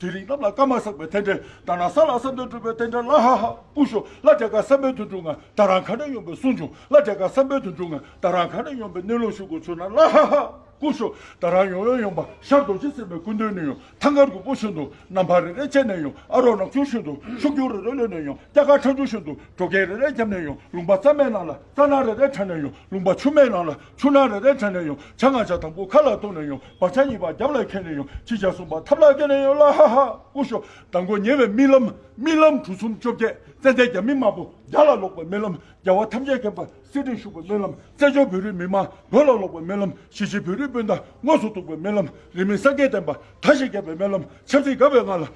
དེ་རིང་གནམ་ལ་སྐར་མ་བསགས་པའི་རྟེན་འབྲེལ་ད་ནང་ས་ལ་ས་འདོད་སྤྲུལ་པའི་རྟེན་འབྲེལ་ལ་ཧ་ཧ་སྐུ་ཞོ་བླ་རྒྱ་གར་བསམ་འཕེལ་དུ་འགྲོ་ང་ད་རང་ག་འདྲ་ཡོང་པའི་གསུང་བྱུང་བླ་རྒྱ་གར་བསམ་འཕེལ་དུ་འགྲོ་ང་ད་རང་ག་འདྲ་ཡོང་པའི་གནས་ལུགས་ཤུགས་དགོས་ཚོད་ན་ལ་ཧ་ཧ་སྐུ་ཞོ་ད་རང་ཡོང་ཡོང་ཡོང་པ་ཤར་རྡོ་རྗེ་སེམས་པའི་སྐུ་མདུན་ནས་ཡོང་ཐང་གར་གུར་པོ་ཤུན་དུ་ནམ་བྷ་རེ་རེ་བཅད་ནས་ཡོང་ཨ་རོག་ནག་ཆུ་ཤུན་དུ་ཤུག་རྒྱུག་རེ་རེ་ལོན་ནས་ཡོང་སྐྱ་ཁ་ཁྲ་འཇུ་ཤུན་དུ་བྲོ་རྒན་རེ་རེ་རྒྱབ་ནས་ཡོང་ལུང་པ་རྩ་མེད་ནང་ལ་རྩ་ནག་རེ་རེ་ཁྲ་ནས་ཡོང་ལུང་པ་ཆུ་མེད་ནང་ལ། ཆུ་ནག་རེ་རེ་དྲན་ནས་ཡོང་བྱ་ང་བྱ་དང་པོ་ཁ་ལ་གཏོང་ནས་ཡོང་བར་བྱ་གཉིས་པ་རྒྱབ་ལ་འཁེན་ནས་ཡོང་ཅི་བྱ་གསུངས་པ་ཐབས་ལ་བཀལ་ནས་ཡོང་ལ་ཧ་ཧ་ཀུ་ཤོ་དང་པོ་ཉེ་བའི་རྨི་ལམ་རྨི་ལམ་གྲུ་གསུམ་བཅོ་བརྒྱད་ཙན་དན་རྒྱ་མི་དམར་པོ་རྒྱ་ལ་ལོག་པའི་རྨི་ལམ་རྒྱལ་བ་ཐམས་ཅད་མཁྱེན་པ་སྲིད་སྟེང་བཞུགས་པའི་རྨི་ལམ་བཙན་བྱོལ་བོད་རིགས་མི་དམངས་བོད་ལ་ལོག་པའི་རྨི་ལམ་གཞིས་བྱེས་བོད་རིགས་སྤུན་ཟླ་དངོས་སུ་གཏུགས་པའི་རྨི་ལམ་རིས་མེད་སངས་རྒྱས་བསྟན་པ་མཐའ་བཞི་རྒྱལ་བའི་རྨི་ལམ་ཆབ་སྲིད་དགའ་བའི་ངང་ལ།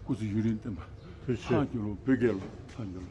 སྐུ་ཚེ་ཡུན་རིང་བརྟན་པ། ཐང་གི་ལོ་བོད་རྒྱལ་ལོ་ཐང་གི་ལོ།